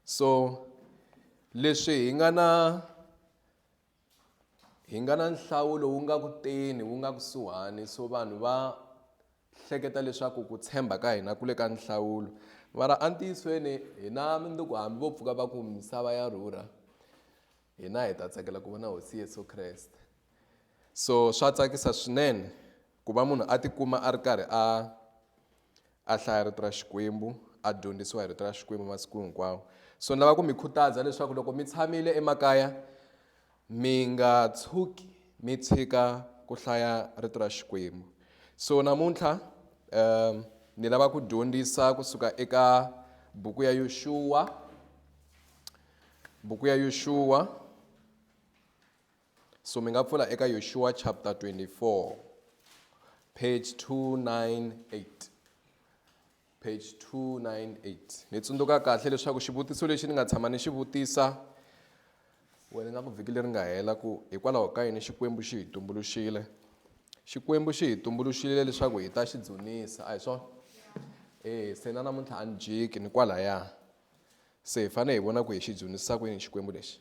so leswi hi nga na hi nga na nhlawulo wu nga kuteni wu nga kusuhani so vanhu va hleketa leswaku ku tshemba ka hina ku le ka nhlawulo mara entiyisweni hina mindzuku hambi vo pfuka va ku misava ya rhurha hina hi ta tsakela ku vona hosi yesu kreste so swa tsakisa swinene ku va munhu a tikuma a ri karhi a a hlaya rito ra Xikwembu, a dyondzisiwa hi rito ra Xikwembu masiku hinkwawo. So ni lava ku mi khutaza leswaku loko mi tshamile emakaya mi nga tshuki mi tshika ku hlaya rito ra Xikwembu. So namuntlha um ni lava ku dyondzisa kusuka eka buku ya Yoxuwa, buku ya Yoxuwa So mi nga pfula eka Yoshua chapter 24 page 298 page 298 ni tsundzuka kahle leswaku xivutiso lexi ni nga tshama ni xi vutisa wena nga ku vhiki leri nga hela ku hikwalaho ka yini xikwembu xi hi tumbuluxile xikwembu xi hi tumbuluxile leswaku hi ta xi dzunisa a hi swona e se na namuntlha a ni jiki ni kwalaya se hi fanele hi vona ku hi xi dzunisa ku yini xikwembu lexi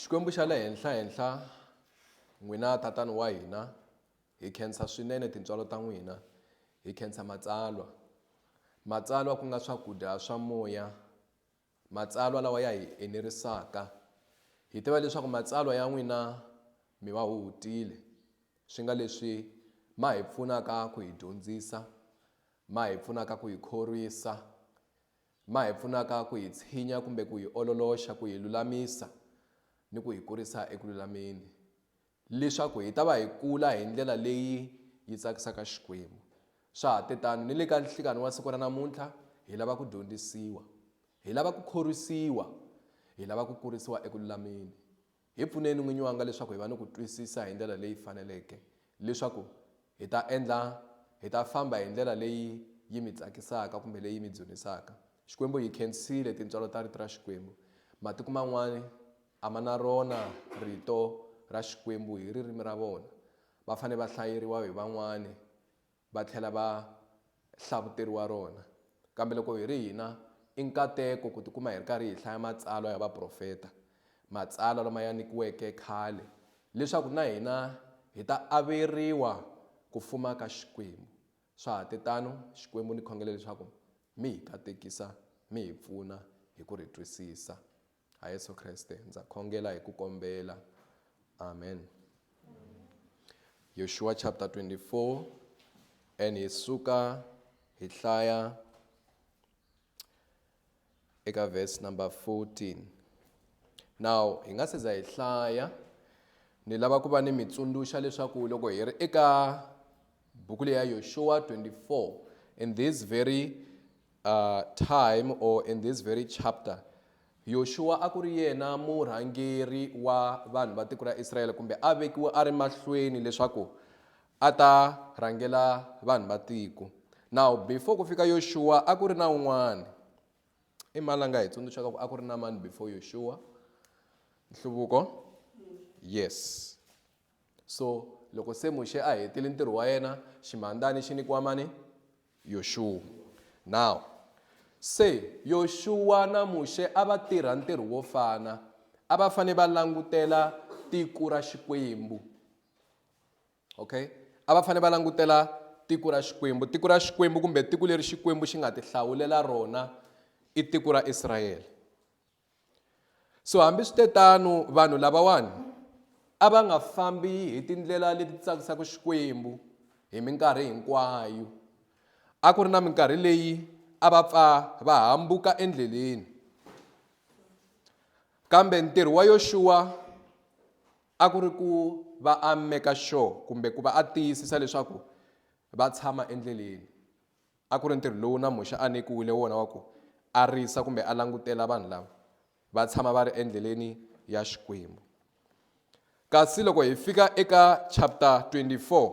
Xikwembu xa le henhla henhla n'wina tatani wa hina hi khensa swinene tintswalo ta n'wina hi khensa matsalwa matsalwa ku nga swakudya swa moya matsalwa lawa ya hi enerisaka hi tiva leswaku matsalwa ya n'wina mi va hutile swi nga leswi ma hi pfunaka ku hi dyondzisa ma hi pfunaka ku hi khorwisa ma hi pfunaka ku hi tshinya kumbe ku hi ololoxa ku hi lulamisa ni ku hi kurisa eku lulameni, leswaku hi ta va hi kula hi ndlela leyi yi tsakisaka Xikwembu. Swa ha te tano ni le ka nhlikani wa siku ra namuntlha, hi lava ku dyondzisiwa, hi lava ku khorwisiwa, hi lava ku kurisiwa eku lulameni. Hi pfuneni n'winyi wanga leswaku hi va ni ku twisisa hi ndlela leyi faneleke, leswaku hi ta endla, hi ta famba hi ndlela leyi yi mi tsakisaka kumbe leyi mi dzunisaka. Xikwembu hi khensile tintswalo ta Rito ra Xikwembu. Matiko man'wana a ma na rona Rito ra Xikwembu hi ririmi ra vona. Va fanele va hlayeriwa hi van'wana va tlhela va hlavuteriwa rona. Kambe loko hi ri hina, i nkateko ku tikuma hi ri karhi hi hlaya matsalwa ya vaprofeta, matsalwa lama ya nyikiweke khale leswaku na hina hi ta averiwa ku fuma ka Xikwembu. Swa ha te tano, Xikwembu ni khongela leswaku mi hi katekisa, mi hi pfuna hi ku ri twisisa. ha yesu kreste ndza khongela hi ku kombela amen yoshua chapter 24 and hi suka hi hlaya eka verse number 14 now hi nga se za hi hlaya ni lava ku va ni mi tsundzuxa leswaku loko hi ri eka buku leyi ya yoshua 24 in this very uh, time or in this very chapter yoxuwa a ku ri yena murhangeri wa vanhu va tiko ra israyele kumbe a vekiwe a ri mahlweni leswaku a ta rhangela vanhu va tiko now before ku fika yoxuwa a ku ri na un'wana i mani la nga hi tsundzuxaka ku a ku ri na mani before yoxuwa nhluvuko yes So loko se Muxe a hetile ntirho wa yena, ximhandzani xi nyikiwa mani? Yoxuwa. Now, se Yoxuwa na Muxe a va tirha ntirho wo fana, a va fanele va langutela tiko ra Xikwembu. Okay? A va fanele va langutela tiko ra Xikwembu. Tiko ra Xikwembu kumbe tiko leri Xikwembu xi nga ti hlawulela rona i tiko ra Israyele. so hambiswitetano vanhu lavawani a va nga fambi hi tindlela leti tsakisaka xikwembu hi minkarhi hinkwayo a ku ri na minkarhi leyi a va pfa va hambuka endleleni kambe ntirho wa yoxuwa a ku ri ku va a meka sure kumbe ku va a tiyisisa leswaku va tshama endleleni A ku ri ntirho lowu na Muxe a nyikiwile wona wa ku a risa kumbe a langutela vanhu lava va tshama va ri endleleni ya Xikwembu. Kasi loko hi fika eka chapter 24,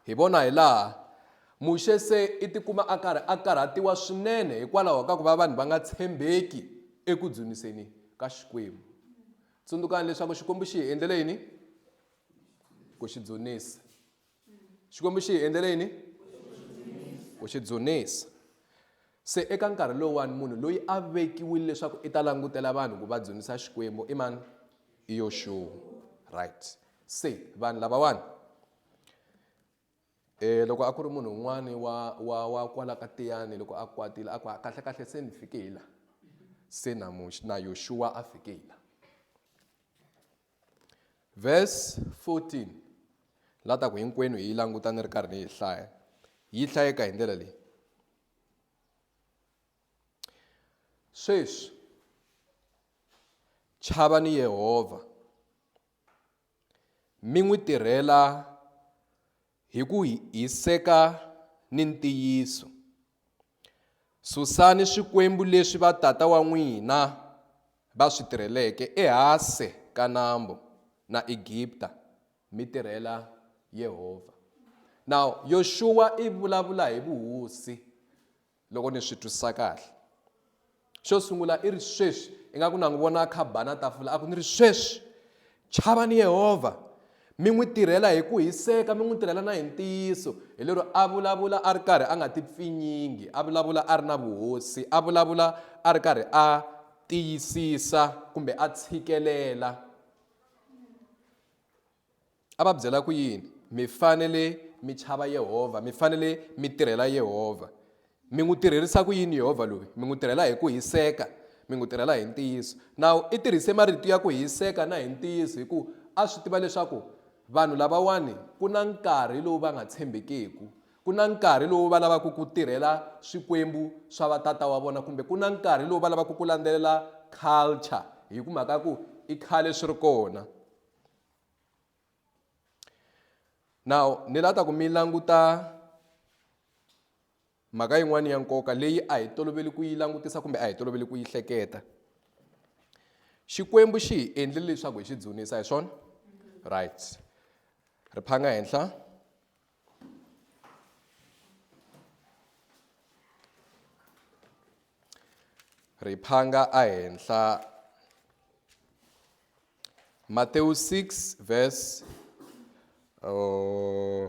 hi vona hi laha Muxe se i tikuma a karhi a karhatiwa swinene hikwalaho ka ku va vanhu va nga tshembeki eku dzuniseni ka Xikwembu. Tsundzukani leswaku Xikwembu xi hi endlele yini? Ku xi dzunisa. xikwembu xi hi endlele yini ku xi dzunisa se eka nkarhi lowuwani munhu loyi a vekiwile leswaku i ta langutela vanhu ku va dzunisa xikwembu i mani i yoxuwa right se vanhu lavawani um loko a ku ri munhu un'wani wa wa wa kwala ka tiyani loko a kwatile a ku kahle kahle se ni fike hi la se na na yoxuwa a fike hi la Verse 14 la ta ku hinkwenu hi yi languta ni ri karhi ni yi hlaya yi hlayeka hi ndlela leyi sweswi chava ni yehovha mi n'wi tirhela Hi ku hiseka ni ntiyiso, susani swikwembu leswi vatata wa n'wina va swi tirheleke ehase ka nambu na Egipta, mi tirhela Yehovha. Now, Yoxuwa i vulavula hi vuhosi. loko ni swi twisisa kahle xo sungula i ri sweswi ingaku na n'wi vona a kha bana tafula a ku ni ri sweswi chavani yehovha mi n'wi tirhela hi ku hiseka mi n'wi tirhela na hi ntiyiso hi lero a vulavula a ri karhi a nga ti pfinyingi a vulavula a ri na vuhosi a vulavula a ri karhi a tiyisisa kumbe a tshikelela a va byela ku yini? Mi fanele mi chava Yehovha, mi fanele mi tirhela Yehovha. Mi n'wi tirherisa ku yini Yehovha loyi? Mi n'wi tirhela hi ku hiseka, mi n'wi tirhela hi ntiyiso. Nawu i tirhise marito ya ku hiseka na hi ntiyiso hi ku a swi tiva leswaku vanhu lavawani ku na nkarhi lowu va nga tshembekeku ku na nkarhi lowu va lavaka ku tirhela swikwembu swa vatata wa vona kumbe ku na nkarhi lowu va lavaka ku landzelela culture hi ku mhaka ku i khale swi ri kona now ni la ta ku mi languta mhaka yin'wana ya nkoka leyi a hi toloveli ku yi langutisa kumbe a hi toloveli ku yi hleketa xikwembu xi hi endlile leswaku hi xi dzunisa hi swona right ri phanga henhla ri phanga ehenhla Matewu 6 verse uh,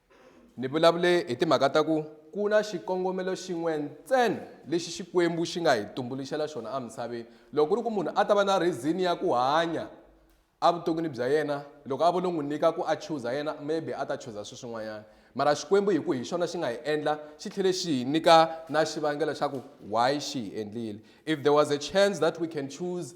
Ni vulavule hi timhaka ta ku ku na xikongomelo xin'we ntsena lexi Xikwembu xi nga hi tumbuluxela xona emisaveni. Loko ku ri ku munhu a ta va na reason ya ku hanya evuton'wini bya yena, loko a vo lo n'wi nyika ku a chuza yena maybe a ta chuza swilo swin'wanyana. Mara Xikwembu hi ku hi xona xi nga hi endla xi tlhele xi hi nyika na xivangelo xa ku why xi hi endlile. If there was a chance that we can choose.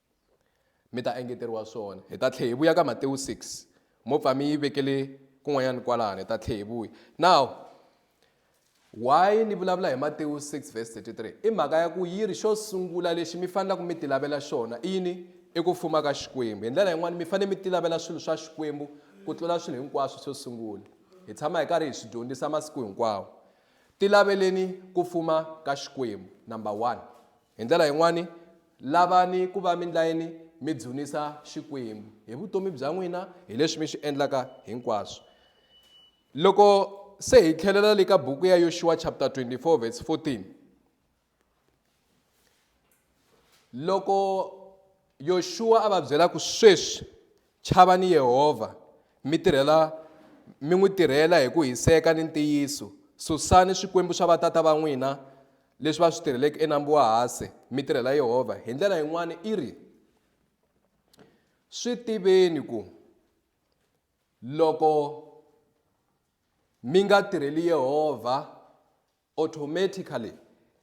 Mi ta engeteriwa swona. Hi ta tlhe hi vuya ka Matewu 6. Mo pfa mi yi vekele kun'wanyana kwalano, hi ta tlhe hi vuya. Now, why ni vulavula hi Matewu 6 verse 33? I mhaka ya ku yi ri xo sungula lexi mi fanelaka mi tilavela xona i yini? I ku fuma ka Xikwembu. Hi ndlela yin'wana mi fanele mi tilavela swilo swa Xikwembu ku tlula swilo hinkwaswo xo sungula. Hi tshama hi karhi hi swi dyondzisa masiku hinkwawo. Tilaveleni ku fuma ka Xikwembu, number one. Hi ndlela yin'wana, lavani ku va mi ndlayini mi dzunisa Xikwembu hi vutomi bya n'wina hi leswi mi swi endlaka hinkwaswo. Loko se hi tlhelela le ka buku ya Yoxuwa chapter 24 verse 14, loko Yoxuwa a va byela ku sweswi Chavani Yehovha, mi tirhela mi n'wi tirhela hi ku hiseka ni ntiyiso. Susani swikwembu swa vatata va n'wina leswi va swi tirheleke eNambu wa Hase, mi tirhela Yehovha. Hi ndlela yin'wana i ri, Swi tiveni ku loko mi nga tirheli Yehovha, automatically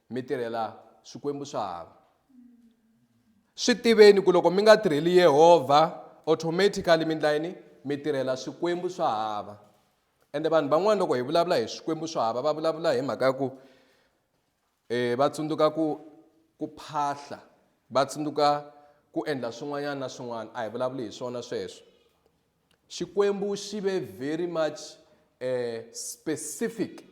mi tirhela swikwembu swa hava swi tiveni ku loko mi nga tirheli yehovha automatically mi ndla yini mi tirhela swikwembu swa hava ende vanhu van'wana loko hi vulavula hi swikwembu swa hava va vulavula hi mhaka ya ku um va tsundzuka ku ku phahla va tsundzuka ku endla swin'wanyana na swin'wana a hi vulavuli hi swona sweswo Xikwembu xi ve very much eh, specific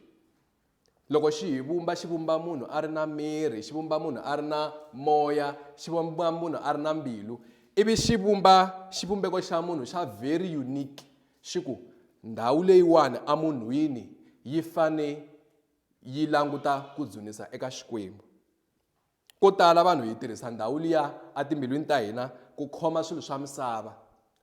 loko xi hi vumba xi vumba munhu a ri na miri xi vumba munhu a ri na moya xi vumba munhu a ri na mbilu ivi xi vumba xivumbeko xa munhu xa very unique xi ku ndhawu leyiwani emunhwini yi fane yi languta ku dzunisa eka xikwembu Ko tala vanhu hi tirhisa ndhawu liya etimbilwini ta hina ku khoma swilo swa misava.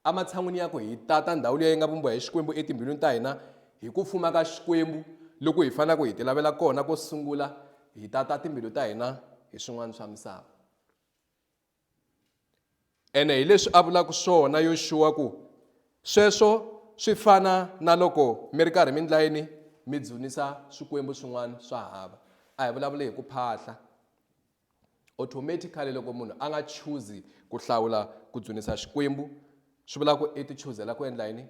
Ematshan'wini ya ku hi tata ndhawu liya yi nga vumbiwa hi Xikwembu etimbilwini ta hina, hi ku fuma ka Xikwembu loku hi fanelaka hi tilavela kona ko sungula, hi tata timbilu ta hina hi swin'wana swa misava. Ene hi leswi a vulaka swona Yoxuwa ku, Sweswo swi fana na loko mi ri karhi mi ndla yini? Mi dzunisa swikwembu swin'wana swa hava. A hi vulavuli hi ku phahla. Automatically loko munhu a nga chuzi ku hlawula ku dzunisa xikwembu, swi vula ku i ti chuzela ku endla yini?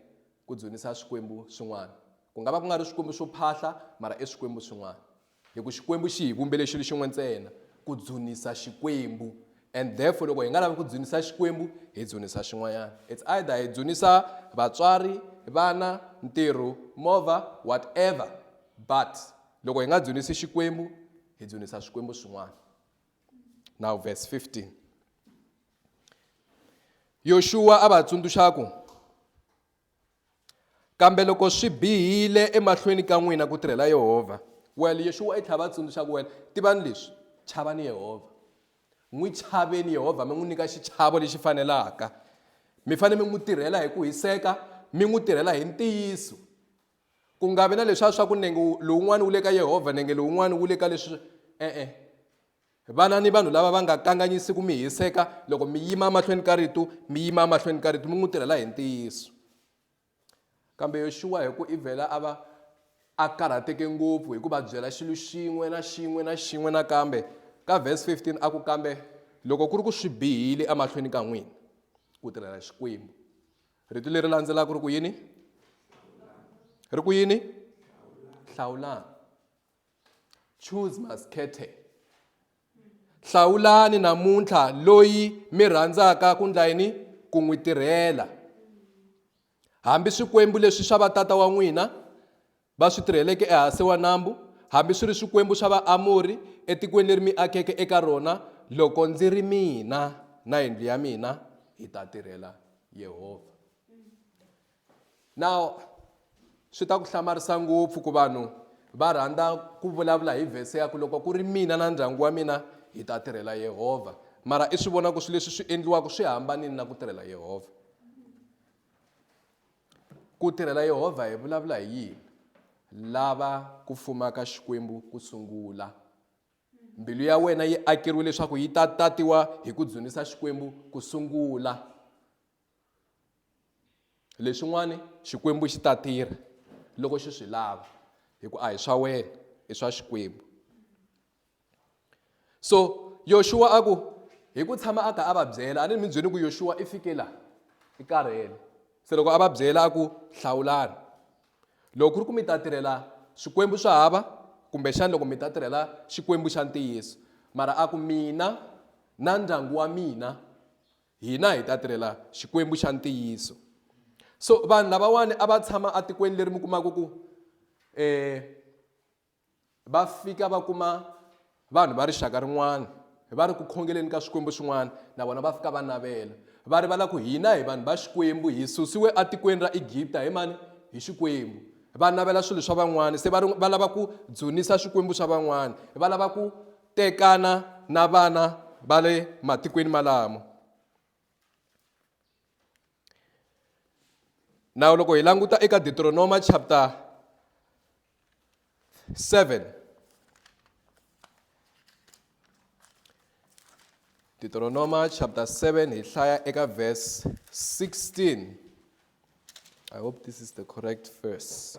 Ku dzunisa swikwembu swin'wana. Ku nga va ku nga ri swikwembu swo phahla, mara i swikwembu swin'wana. Hi ku Xikwembu xi hi vumbele xilo xin'we ntsena, ku dzunisa Xikwembu. And therefore loko hi nga lavi ku dzunisa Xikwembu, hi dzunisa xin'wanyana. It's either hi dzunisa vatswari, vana, ntirho, movha, whatever. But loko hi nga dzunisi Xikwembu, hi dzunisa swikwembu swin'wana. Now verse 15. Yoxuwa a va tsundzuxa ku, kambe loko swi bihile emahlweni ka n'wina ku tirhela yehovha well yexuwa i tlhela va tsundzuxa ku wena tivani leswi chavani yehovha n'wi chaveni yehovha mi n'wi nyika xichavo lexi fanelaka mi fanele mi n'wi tirhela hi ku hiseka mi n'wi tirhela hi ntiyiso ku nga vi na leswiya swa ku nenge lowun'wana wu le ka yehovha nenge lowun'wana wu le ka leswi e-e Vana ni vanhu lava va nga kanganyisi ku mi hiseka loko mi yima emahlweni ka ritu, mi yima emahlweni ka ritu mi n'wi tirhela hi ntiyiso. Kambe Yoxuwa hi ku ivela a va a karhateke ngopfu hi ku va byela xilo xin'we na xin'we na xin'we nakambe. Ka verse 15 a ku kambe loko ku ri ku swi bihile emahlweni ka n'wina ku tirhela Xikwembu. Ritu leri landzelaka ri ku yini? Ri ku yini? Hlawulani. choose maskete hlawulani namuntlha loyi mi rhandzaka ku ndla yini ku n'wi tirhela hambi swikwembu leswi swa vatata wa n'wina va swi tirheleke ehansi wa nambu hambi swi ri swikwembu swa vaamori etikweni leri mi akeke eka rona loko ndzi ri mina na yindlu ya mina hi ta tirhela yehovha Now, swi ta ku hlamarisa ngopfu ku vanhu va rhandza ku vulavula hi vhese ya ku loko ku ri mina na ndyangu wa mina hi ta tirhela Yehovha mara i swi vona ku swilo leswi swi endliwaka swi hambanile na ku tirhela Yehovha ku tirhela Yehovha hi vulavula hi yini lava ku fumaka xikwembu ku sungula mbilu ya wena yi akeriwe leswaku yi ta tatiwa hi ku dzunisa xikwembu ku sungula leswin'wani xikwembu xi ta tirha loko xi swi lava hi ku a hi swa wena i swa xikwembu so yoxuwa a ku hi ku tshama a kha a va byela a ni mi byeli ku yoxuwa i fike laha i karhele se loko a va byela a ku hlawulani loko ku ri ku mi ta tirhela swikwembu swa hava kumbexani loko mi ta tirhela xikwembu xa ntiyiso mara a ku mina na ndyangu wa mina Hina hi ta tirhela Xikwembu xa ntiyiso. So vanhu lavawani a va tshama atikweni leri mi kumaka ku eh, va fika va kuma vanhu va rixaka rin'wana va ri ku khongeleni ka swikwembu swin'wana na vona va fika va navela va rivala ku hina hi vanhu va xikwembu hi susiwe atikweni ra egipta hi mani hi xikwembu va navela swilo swa van'wana se va lava ku dzunisa swikwembu swa van'wana va lava ku tekana na vana va le matikweni malamo nawu loko hi languta eka deuteronoma chapter 7 deuteronoma chapter 7 hi hlaya eka verse 16 i hope this is the correct verse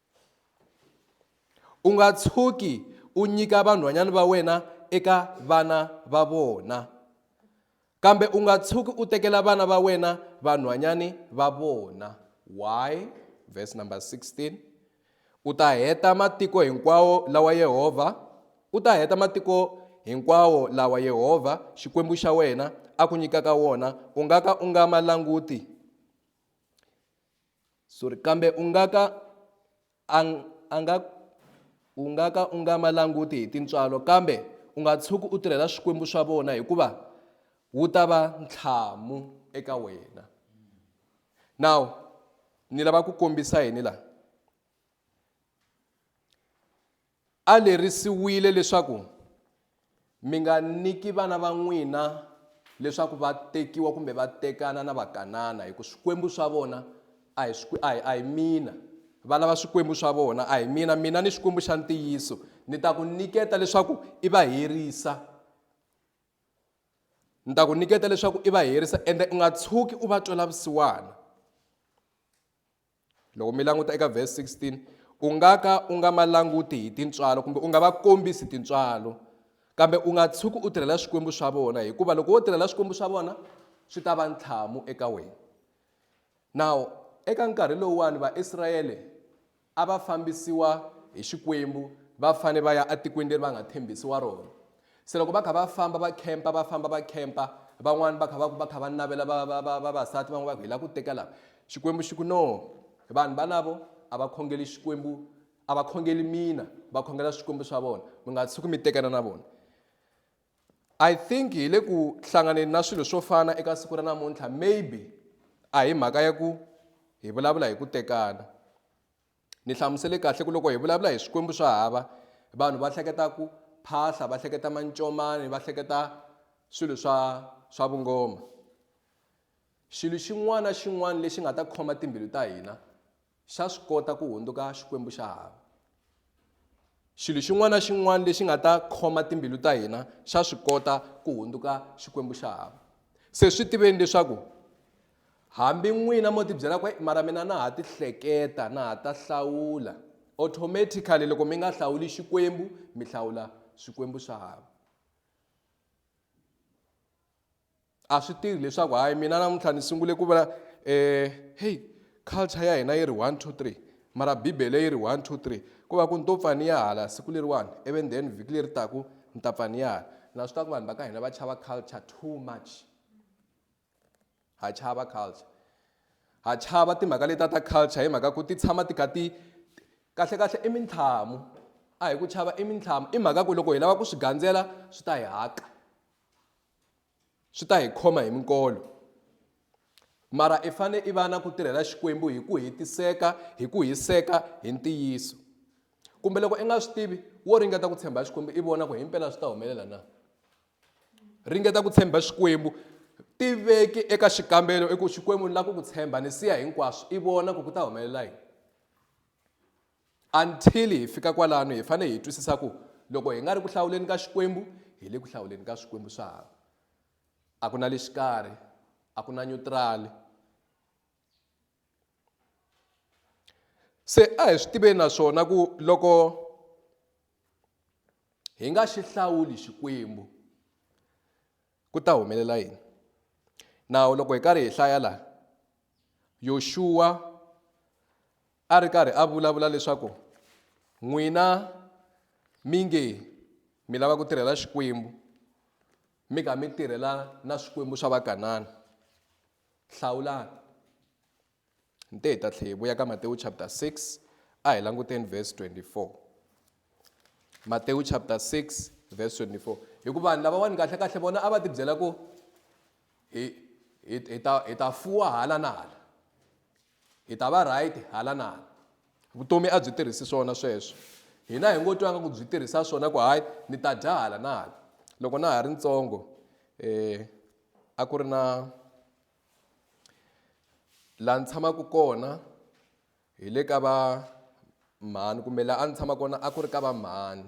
U nga tshuki u nyika vanhwanyana va wena eka vana va vona, kambe u nga tshuki u tekela vana va wena vanhwanyani va vona. Why? Verse number 16. U ta heta matiko hinkwawo lawa Yehovha, u ta heta matiko hinkwawo lawa Yehovha Xikwembu xa wena a ku nyikaka wona, u nga ka u nga ma languti. Sorry, kambe u nga ka a, a nga u nga ka u nga ma languti hi tintswalo kambe u nga tshuki u tirhela swikwembu swa vona hikuva wu ta va ntlhamu eka wena now ni lava ku kombisa yini laha A lerisiwile leswaku, Mi nga nyiki vana va n'wina leswaku va tekiwa kumbe va tekana na Vakanana, hi ku swikwembu swa vona a hi a hi a hi mina. Va lava swikwembu swa vona, a hi mina. Mina ni Xikwembu xa ntiyiso ni ta ku nyiketa leswaku i va herisa. Ni ta ku nyiketa leswaku i va herisa ende u nga tshuki u va twela vusiwana. loko mi languta eka vhesi 16 u nga ka u nga ma languti hi tintswalo kumbe u nga va kombisi tintswalo kambe u nga tshuki u tirhela swikwembu swa vona hikuva loko wo tirhela swikwembu swa vona swi ta va ntlhamu eka wena nawu eka nkarhi lowuwani vaisrayele a va fambisiwa hi xikwembu va fane va ya etikweni leri va nga tshembisiwa rona Se loko va kha va famba va khempa va famba va khempa van'wani va kha va ku va kha va navela va va va vavasati van'we va ku hi lava ku teka lava xikwembu xi ku no vanhu valavo a va khongeli xikwembu a va khongeli mina va khongela swikwembu swa vona mi nga tshuki mi tekana na vona i think hi le ku hlanganeni na swilo swo fana eka siku ra namuntlha maybe a hi mhaka ya ku hi vulavula hi ku tekana Ni hlamusele kahle ku loko hi vulavula hi swikwembu swa hava vanhu va hleketa ku phahla va hleketa mancomani va hleketa swilo swa swa vungoma xilo xin'wana na xin'wana lexi nga ta khoma timbilu ta hina xa swi kota ku hundzuka xikwembu xa hava Xilo xin'wana na xin'wana lexi nga ta khoma timbilu ta hina xa swi kota ku hundzuka Xikwembu xa hava. Se swi tiveni leswaku hambi n'wina mo tibyela ku mara mina na ha tihleketa na ha ta hlawula automatically loko mi nga hlawuli Xikwembu mi hlawula swikwembu swa hava. a swi tirhi leswaku hayi mina namuntlha ni sungule ku vula um heyi culture ya hina yi ri one two three mara bibele yi ri one two three ku va ku ni to pfa ni ya hala siku leriwani ivi then vhiki leri taku ni ta pfa ni ya hala na swi tiva ku vanhu va ka hina va chava culture too much ha chava culture ha chava timhaka leta ta culture hi mhaka ku ti tshama ti kha ti kahle kahle i mintlhamu a hi ku chava i mintlhamu i mhaka ku loko hi lava ku swi gandzela swi ta hi haka swi ta hi khoma hi minkolo mara i fane i va na ku tirhela xikwembu hi ku hetiseka hi ku hiseka hi ntiyiso kumbe loko i nga swi tivi wo ringeta ku tshemba xikwembu i vona ku himpela swi ta humelela na ringeta ku tshemba xikwembu tiveki eka xikambelo i ku xikwembu ni lava ku ku tshemba ni siya hinkwaswo i vona ku ku ta humelela yini Until hi fika kwalano hi fanele hi twisisa ku loko hi nga ri ku hlawuleni ka Xikwembu hi le ku hlawuleni ka swikwembu swa hava. A ku na le xikarhi, a ku na nyutirali. Se a hi swi tiveni naswona ku loko hi nga xi hlawuli Xikwembu, Ku ta humelela yini? Nawu loko hi karhi hi hlaya laha Yoxuwa a ri karhi a vulavula leswaku n'wina mi nge mi lava ku tirhela xikwembu mi kha mi tirhela na swikwembu swa vakanana hlawulani Nte hi ta tlhe hi vuya ka Matewu chapter 6 a hi languteni verse 24. Matewu chapter 6 verse 24. Hikuva vanhu lavawani kahle kahle vona a va ti byela ku hi hi hi ta hi ta fuwa hala na hala. Hi ta va right hala na hala. Vutomi a byi tirhisi swona sweswo. Hina hi ngo twanga ku byi tirhisa swona ku hayi ni ta dya hala na hala. Loko na ha ri ntsongo eh a ku ri na laha ni tshamaka kona hi le ka va mhani kumbe laha a ni tshama kona a ku ri ka va mhani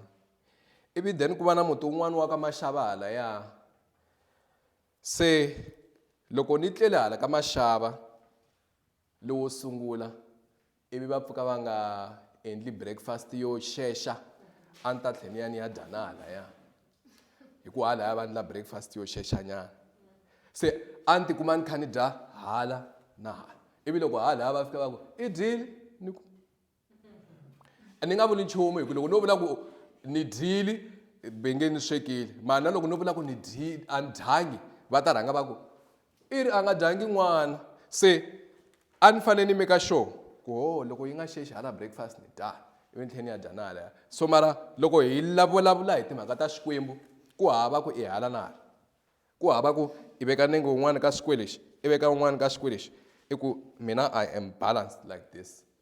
ivi then ku va na muti wun'wana wa ka maxava halaya se loko ni tlele hala ka maxava lowo sungula ivi va pfuka va nga endli breakfast yo xexa a ni ta tlhe ni ya ni ya dya na halaya hi ku halaya va ndla breakfast yo xexanyana se a ni tikuma ni kha ni dya hala na hala ivi loko halaya va fika va ku i dyile ni ku ni nga vuli nchumu hi ku loko no vula ku ni dyile ve nge ni swekile mara na loko no vula ku ni dyile a ni dyangi va ta rhanga va ku i ri a nga dyangi n'wana se a ni fanele ni meka sure ku ho loko yi nga xexi hala breakfast ni dya ivi ni tlhela ni ya dya na halaya so mara loko hi lavulavula hi timhaka ta xikwembu ku hava ku i hala na hala ku hava ku i veka nenge wun'wana ka xikwelexi i veka wun'wana ka xikwelexi i ku mina i am balanced like this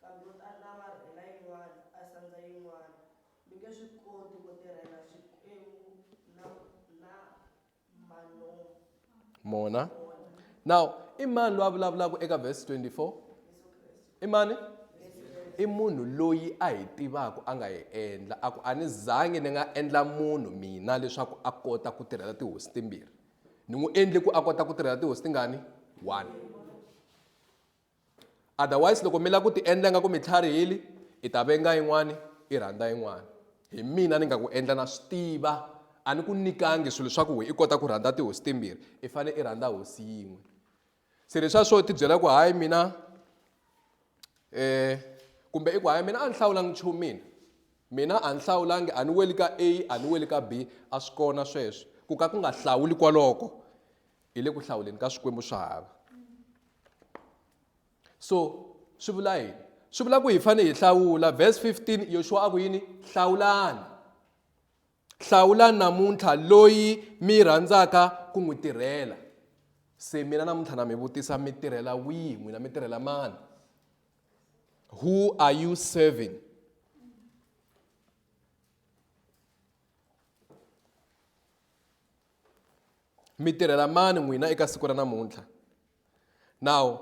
Kambe u ta lava rhena yin'wana, a sandza yin'wana. Mi nge swi koti ku tirhela Xikwembu na, na Manomu. Mona. Now, i mani loyi a vulavulaka eka verse 24? I mani? I munhu loyi a hi tivaka a nga hi endla. A ku a ni zangi ni nga endla munhu mina leswaku a kota ku tirhela tihosi timbirhi. Ni n'wi endle ku a kota ku tirhela tihosi tingani? One. Otherwise loko mi la ku ti endla nga ku mi tlharihile i ta venga yin'wani i rhandza yin'wani hi mina ni nga ku endla na swi tiva a ni ku nikangi swilo swa ku we i kota ku rhandza tihosi timbirhi i fane i rhandza hosi yin'we se leswa swo ti byela ku hayi mina eh kumbe i ku hayi mina a ni hlawulangi nchumu mina mina a ni hlawulangi a ni weli ka A a ni weli ka B a swi kona sweswo ku ka ku nga hlawuli kwaloko hi le ku hlawuleni ka swikwembu swa hava so swi vula yini swi vula ku hi fanele hi hlawula verse 15 yoshuwa a ku yini hlawulani hlawulani namuntlha loyi mi rhandzaka ku n'wi tirhela se mina namuntlha na mi vutisa mi tirhela wihi n'wina mi tirhela mani who are you serving mi tirhela mani n'wina eka siku ra namuntlha nawu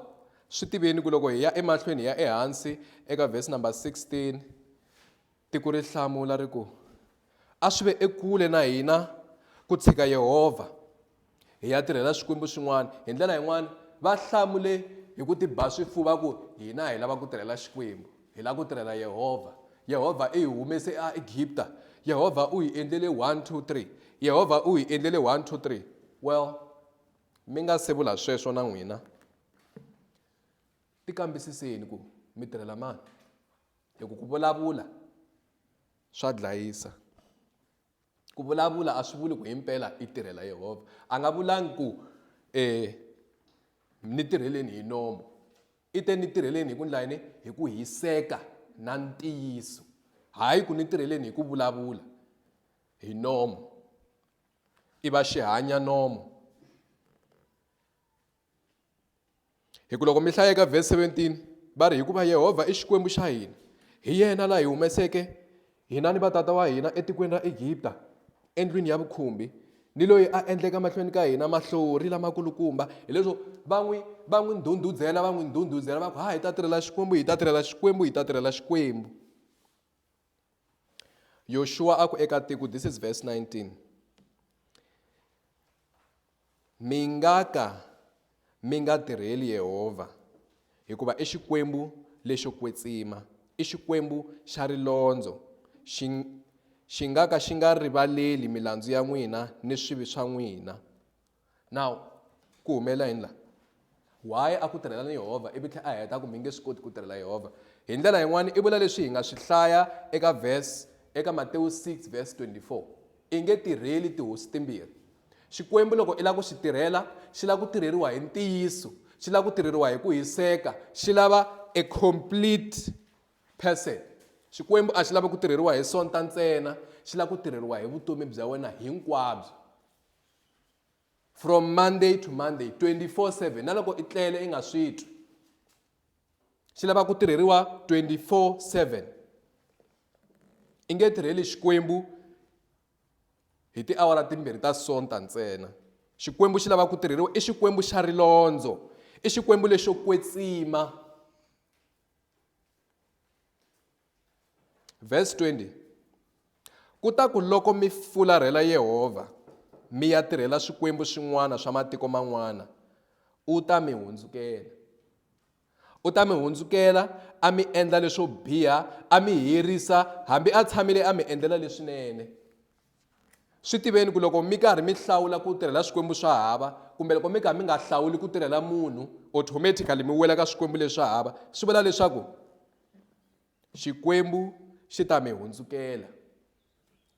swi tiveni ku loko hi ya emahlweni hi ya ehansi eka vhesi number 16 tiko ri hlamula ri ku a swi ve ekule na hina ku tshika yehovha hi ya tirhela swikwembu swin'wana hi ndlela yin'wana va hlamule hi ku tiba swifuva ku hina hi lava ku tirhela xikwembu Hi lava ku tirhela Yehovha. Yehovha i hi humese eEgipta. Yehovha u hi endlele 1, 2, 3. Yehovha u hi endlele 1, 2, 3. Well, mi nga se vula sweswo na n'wina ti kambisiseni ku mi tirhela mani hi ku ku vulavula swa dlayisa Ku vulavula a swi vuli ku himpela i tirhela Yehovha. A nga vulangi ku ni tirheleni hi nomo. I te ni tirheleni hi ku endla yini? Hi ku hiseka na ntiyiso. Hayi ku ni tirheleni hi ku vulavula hi nomo. I va xihanya nomo. hi ku loko mi hlaya eka vhesi 17 va ri hikuva yehovha i xikwembu xa hina hi yena la hi humeseke hina ni vatata wa hina etikweni ra egipta endlwini ya vukhumbi ni loyi a endleka mahlweni ka hina mahlori lamakulukumba hileswo va n'wi va n'wi ndhundhudzela va n'wi ndhundhudzela va ku ha hi ta tirhela xikwembu hi ta tirhela xikwembu hi ta tirhela xikwembu yoshua a ku eka tiko this is verse 19 mi nga ka mi nga tirheli yehovha hikuva i xikwembu lexo kwetsima i xikwembu xa rilondzo xi xi nga ka xi nga rivaleli milandzu ya n'wina ni swivi swa n'wina Now, ku humelela yini laha? Why a ku tirhela ni Yehovha ivi tlhela a heta ku mi nge swi koti ku tirhela Yehovha? Hi ndlela yin'wana i vula leswi hi nga swi hlaya eka verse eka Matewu 6 verse 24, I nge tirheli tihosi timbirhi. Xikwembu loko i lava ku xi tirhela, xi lava ku tirheriwa hi ntiyiso, xi lava ku tirheriwa hi ku hiseka, xi lava a complete person. Xikwembu a xi lavi ku tirheriwa hi sonta ntsena, xi lava ku tirheriwa hi vutomi bya wena hinkwabyo. from monday to monday 24/7 na loko i tlele i nga swi twi xi lava ku tirheriwa 24/7 i nge tirheli xikwembu hi tiawara timbirhi ta sonta ntsena xikwembu xi lava ku tirheriwa i xikwembu xa rilondzo i xikwembu lexo kwetsima Verse 20. Ku ta ku loko mi fularhela Yehovha, mi ya tirhela swikwembu swin'wana swa matiko man'wana, u ta mi hundzukela. U ta mi hundzukela a mi endla leswo biha, a mi herisa hambi a tshamile a mi endlela leswinene. Swi tiveni ku loko mi karhi mi hlawula ku tirhela swikwembu swa hava kumbe loko mi kha mi nga hlawuli ku tirhela munhu automatically mi wela ka swikwembu leswi hava swi vula leswaku xikwembu xi ta mi hundzukela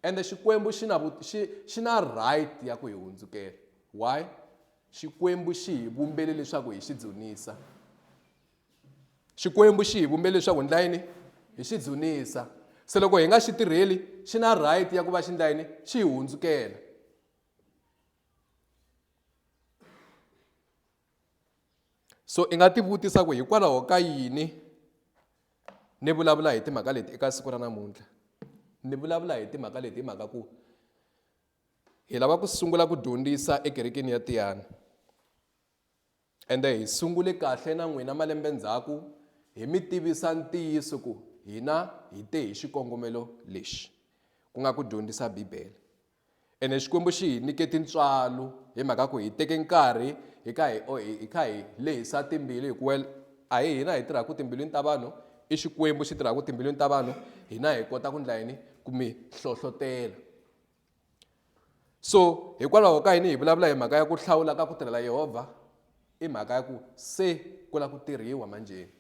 ende xikwembu xi na xi xi na right ya ku hi hundzukela why xikwembu xi hi vumbele leswaku hi xi dzunisa xikwembu xi hi vumbele leswaku ndla yini hi xi dzunisa se loko hi nga xi tirheli xi na right ya ku va xi ndla yini xi hi hundzukela so i nga tivutisa ku hikwalaho ka yini ni vulavula hi timhaka leti eka siku ra namuntlha ni vulavula hi timhaka leti hi mhaka ku hi lava ku sungula ku dyondzisa ekerekeni ya tiyana ende hi sungule kahle na n'wina malembe ndzhaku hi mi tivisa ntiyiso ku hina hi te hi xikongomelo lexi ku nga ku dyondzisa bibele Ene Xikwembu xi hi nyike tintswalo hi mhaka ku hi teke nkarhi hi kha hi o- hi hi kha hi lehisa timbilu hi ku well a hi hina hi tirhaka timbilwini ta vanhu i Xikwembu xi tirhaka timbilwini ta vanhu hina hi kota ku ndla yini ku mi hlohlotela so hikwalaho ka yini hi vulavula hi mhaka ya ku hlawula ka ku tirhela yehovha i mhaka ya ku se ku lava ku tirhiwa manjheni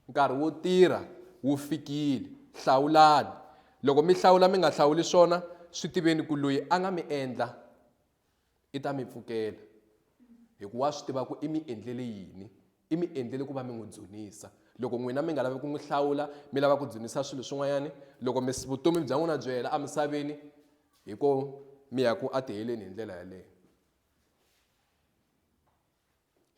Nkarhi wo tirha wu fikile. Hlawulani. Loko mi hlawula mi nga hlawuli swona, swi tiveni ku loyi a nga mi endla i ta mi pfukela hikuva wa swi tiva ku i mi endlele yini. I mi endlele ku va mi n'wi dzunisa. Loko n'wina mi nga lavi ku n'wi hlawula mi lava ku dzunisa swilo swin'wanyana, loko mi vutomi bya n'wina byi hela emisaveni hi ko mi ya ku a tiheleni hi ndlela yaleyo.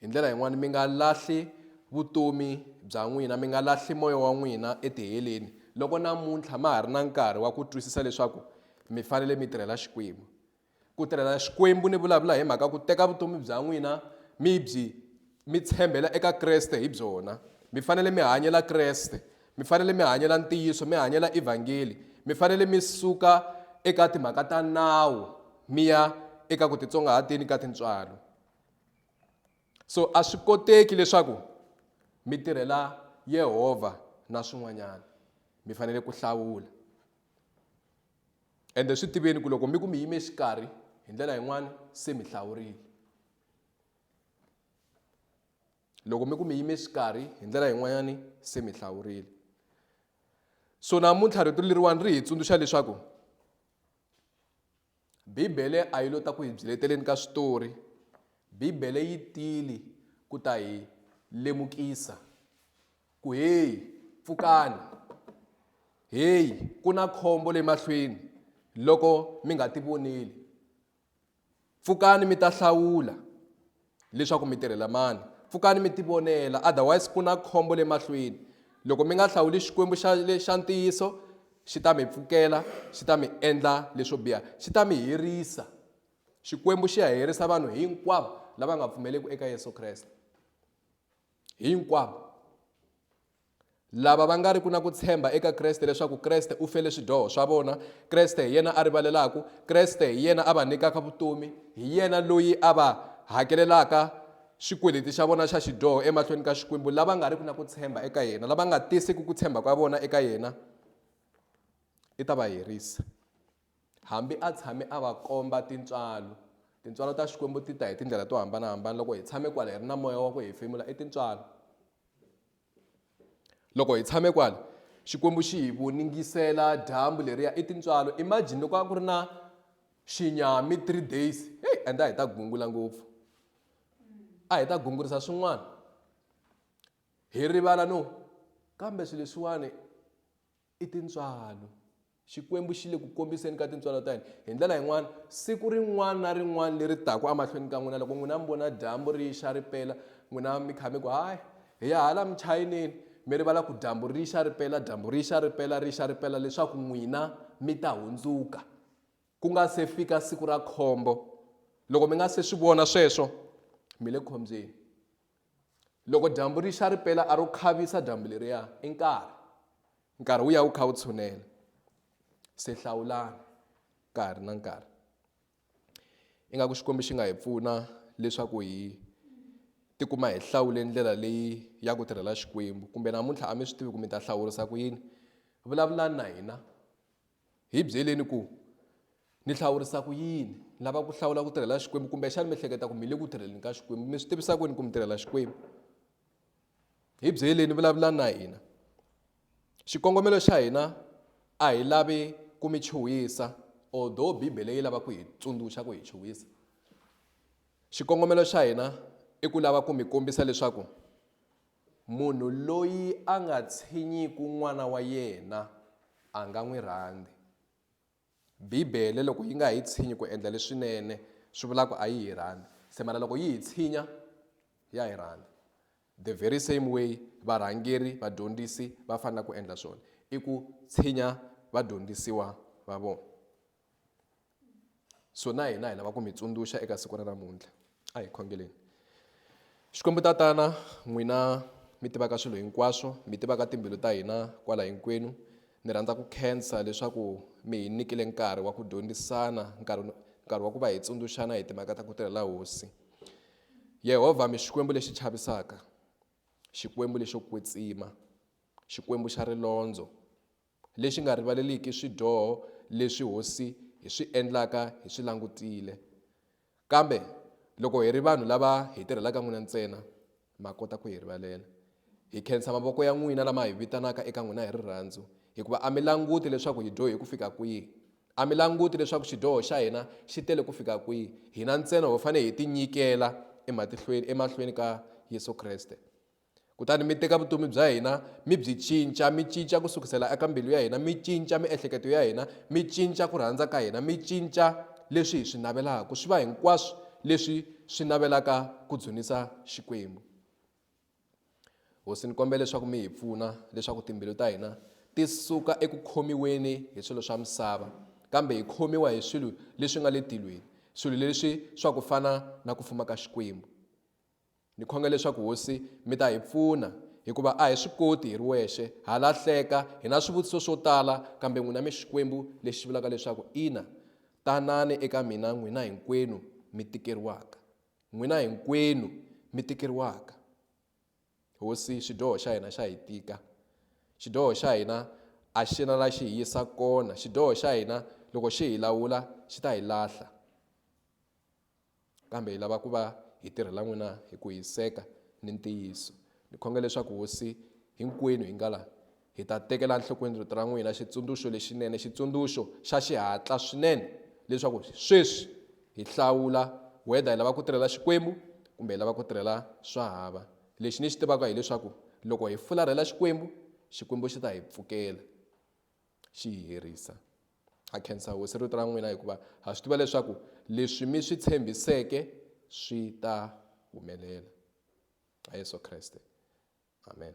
hi ndlela yin'wani mi nga lahli vutomi bya n'wina mi nga lahli moya wa n'wina etiheleni loko namuntlha ma ha ri na nkarhi wa ku twisisa leswaku mi fanele mi tirhela xikwembu ku tirhela xikwembu ni vulavula hi mhaka ku teka vutomi bya n'wina mi byi mi tshembela eka kreste hi byona mi fanele mi hanyela kreste mi fanele mi hanyela ntiyiso mi hanyela evhangeli mi fanele mi suka eka timhaka ta nawu mi ya eka ku titsongahateni ka tintswalo so a swi koteki leswaku mi tirhela yehovha na swin'wanyana mi fanele ku hlawula ende swi tiveni ku loko mi ku mi yime xikarhi hi ndlela yin'wana se mi hlawurile loko mi ku mi yime xikarhi hi ndlela yin'wanyani se mi hlawurile so namuntlha rito leriwani ri hi tsundzuxa leswaku Bibele a yi lo ta ku hi byeleteleni ka switori Bibele yi tili ku ta hi lemukisa ku heyi pfukani heyi ku na khombo le mahlweni loko mi nga ti voneli pfukani mi ta hlawula Leswaku mi tirhela mani? Pfukani mi tivonela, otherwise ku na khombo le mahlweni. Loko mi nga hlawuli Xikwembu xa, xa ntiyiso, Xi ta mi pfukela, Xi ta mi endla leswo biha, Xi ta mi herisa. Xikwembu xi ya herisa vanhu hinkwavo lava nga pfumeleki eka Yesu Kreste. Hinkwavo. lava va nga ri ku na ku tshemba eka Kreste leswaku Kreste u fele swidyoho swa vona, Kreste hi yena a rivalelaku, Kreste hi yena a va nyikaka vutomi, hi yena loyi a va hakelelaka xikweleti xa vona xa xidyoho emahlweni ka Xikwembu, lava nga riki na ku tshemba eka yena, lava nga tisiki ku tshemba ka vona eka yena, i ta va herisa. Hambi a tshame a va komba tintswalo. Tintswalo ta Xikwembu ti ta hi tindlela to hambana-hambana. Loko hi tshame kwala, hi ri na Moya wa ku hefemula, i tintswalo. Loko hi tshame kwala, Xikwembu xi hi voningisela dyambu leriya, i tintswalo. Imagine loko a ku ri na xinyami three days, hey, ende a hi ta gungula ngopfu. A hi ta gungurisa swin'wana. Hi rivala no, kambe swilo leswiwani I tintswalo. Xikwembu xi le ku kombiseni ka tintswalo ta hina hi ndlela yin'wana siku rin'wana na rin'wana leri taka emahlweni ka n'wina loko n'wina mi vona dyambu ri xa ri pela n'wina mi kha mi ku hayi hi ya hala muchayinini mi rivala ku dyambu ri xa ri pela dyambu ri xa ri pela ri xa ri pela leswaku n'wina mi ta hundzuka ku nga se fika siku ra khombo loko mi nga se swi vona sweswo mi le khombyeni Loko dyambu ri xa ri pela a ro khavisa dyambu leriya i nkarhi. Nkarhi wu ya wu kha wu tshunela. Se hlawulani ka ha ri na nkarhi. Ingaku Xikwembu xi nga hi pfuna leswaku hi tikuma hi hlawule ndlela leyi ya ku tirhela Xikwembu kumbe namuntlha a mi swi tivi ku mi ta hlawurisa ku yini vulavulani na hina Hi byeleni ku, Ni hlawurisa ku yini? Ni lava ku hlawula ku tirhela Xikwembu kumbexana mi hleketa ku mi le ku tirheleni ka Xikwembu. Mi swi tivisa kwini ku mi tirhela Xikwembu? Hi byeleni, vulavulani na hina. Xikongomelo xa hina a hi lavi ku mi chuhisa although bibele yi lava ku hi tsundzuxa ku hi chuhisa xikongomelo xa hina i ku lava ku mi kombisa leswaku Munhu loyi a nga tshinyiku n'wana wa yena a nga n'wi rhandzi. Bibele loko yi nga hi tshinyi ku endla leswinene swi vula ku a yi hi rhandzi se mara loko yi hi tshinya ya hi rhandza the very same way varhangeri vadyondzisi va fanela ku endla swona i ku tshinya vadyondzisiwa va vona. so na hina hi lava ku mi tsundzuxa eka siku ra namuntlha a hi khongeleni xikwembu tatana n'wina mi tivaka swilo hinkwaswo mi tivaka timbilu ta hina kwala hinkwenu ni rhandza ku khensa leswaku mi hi nyikile nkarhi wa ku dyondzisana nkarhi nkarhi wa ku va hi tsundzuxana hi timhaka ta ku tirhela hosi yehovha mi xikwembu lexi chavisaka xikwembu lexo kwetsima xikwembu xa rilondzo Lexi nga rivaleliki swidyoho leswi hosi hi swi endlaka hi swi langutile. Kambe loko hi ri vanhu lava hi tirhelaka n'wina ntsena, ma kota ku hi rivalela. Hi khensa mavoko ya n'wina lama hi vitanaka eka n'wina hi rirhandzu, hikuva a mi languti leswaku hi dyohe ku fika kwihi. A mi languti leswaku xidyoho xa hina xi tele ku fika kwihi, hina ntsena ho fanele hi tinyikela emahlweni ka Yesu Kreste. kutani mi teka vutomi bya hina mi byi cinca mi cinca ku sukisela eka mbilu ya hina mi cinca miehleketo ya hina mi cinca ku rhandza ka hina mi cinca leswi hi swi navelaka swi va hinkwaswo leswi swi navelaka ku dzunisa xikwembu hosi ni kombela leswaku mi hi pfuna leswaku timbilu ta hina ti suka eku khomiweni hi swilo swa misava kambe hi khomiwa hi swilo leswi nga le tilweni swilo leswi swa ku fana na ku fuma ka xikwembu Ni khonga leswaku Hosi mi ta hi pfuna, hikuva a hi swi koti hi ri wexe, ha lahleka, hi na swivutiso swo tala, kambe n'wina mi Xikwembu lexi vulaka leswaku Ina, tanani eka mina n'wina hinkwenu mi tikeriwaka. N'wina hinkwenu mi tikeriwaka. Hosi, xidyoho xa hina xa hi tika. Xidyoho xa hina a xi na la xi hi yisa kona. Xidyoho xa hina loko xi hi lawula xi ta hi lahla. Kambe hi lava ku va hi tirhela n'wina hi ku hiseka ni ntiyiso. Ni khonge leswaku Hosi, hinkwenu hi nga la, hi ta tekela enhlokweni Rito ra n'wina, Xitsundzuxo lexinene, Xitsundzuxo xa xihatla swinene, leswaku sweswi hi hlawula whether hi lava ku tirhela Xikwembu kumbe hi lava ku tirhela swa hava. Lexi ni xi tivaka hileswaku loko hi fularhela Xikwembu, Xikwembu xi ta hi pfukela, xi hi herisa. Ha khensa Hosi rito ra n'wina hikuva ha swi tiva leswaku leswi mi swi tshembiseke swi ta humelela. Ha Yesu Kreste. Amen.